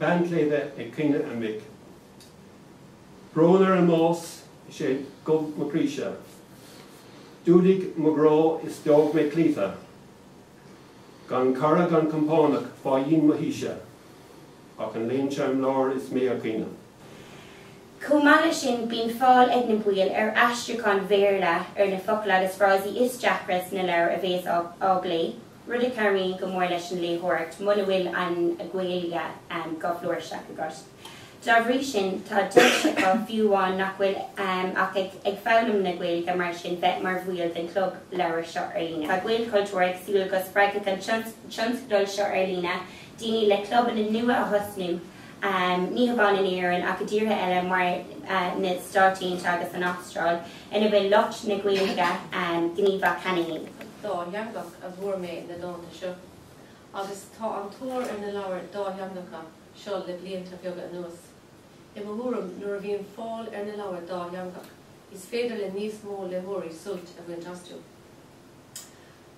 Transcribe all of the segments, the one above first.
Bean tsléibhe ag caoineadh a mic. Brón ar an mbás is é dhubh mo chroíse. D'fhuadaigh mo ghrá is d'fhág mé cloíte. Gan cara gan compánach fá dhíon mo thíse, ach an léan seo im lár is mé ag caoineadh. Chomh maith leis sin bíonn fáil ag na baill ar aistriúcháin Bhéarla ar na focail agus frásaí is deacra sna leabhair a bhéas á bplé, rud a chabhraíonn go mór leis an léitheoireacht muna bhfuil an Ghaeilge go flúirseach agat. Dá bhrí sin tá deis acu, fiú amháin nach bhfuil ach ag foghlaim na Gaeilge mar sin, bheith mar bhaill den chlub leabhar seo ar líne. Tá Gaelchultúr ag súil go spreagfaidh an tionscadal seo ar líne daoine le clubanna nua a thosnú, ní hamháin in Éirinn ach i dtíortha eile mar na Stáit Aontaithe agus an Astráil, ina bhfuil lucht na Gaeilge gníomhach cheana fhéin. Dátheangach a bhfuair mé na dánta seo, agus tá an tóir ar na leabhair dhátheangacha. seo le blianta beaga anuas. I mo thuairim, nuair a bhíonn fáil ar na leabhair dátheangach, is féidir le níos mó léitheoirí sult a bhaint astu.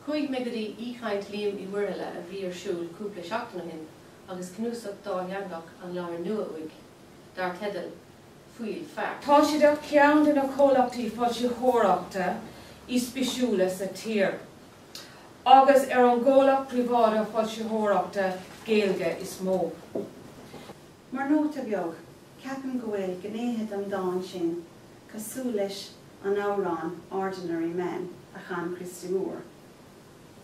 Chuaigh mé go dtí aoichaint Liam Uí Mhuirthile a bhí ar siúl cúpla seachtain ó shin agus cnuasach dátheangach an leabhar nua uaidh, dar teideal Fuíoll Feá. Tá siad ar cheann de na comhlachtaí foilsitheoireachta is bisiúla sa tír. agus ar an gcomhlacht príobháideach foilsitheoireachta Gaeilge is mó. Mar nóta beag, ceapaim go bhfuil gnéithe den dán sin cosúil leis an amhrán Ordinary Man a chan Christy Moore.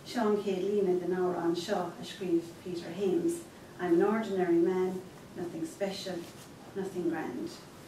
Seo an chéad líne den amhrán seo a scríobh Peter Hames, I'm an ordinary man, nothing special, nothing grand.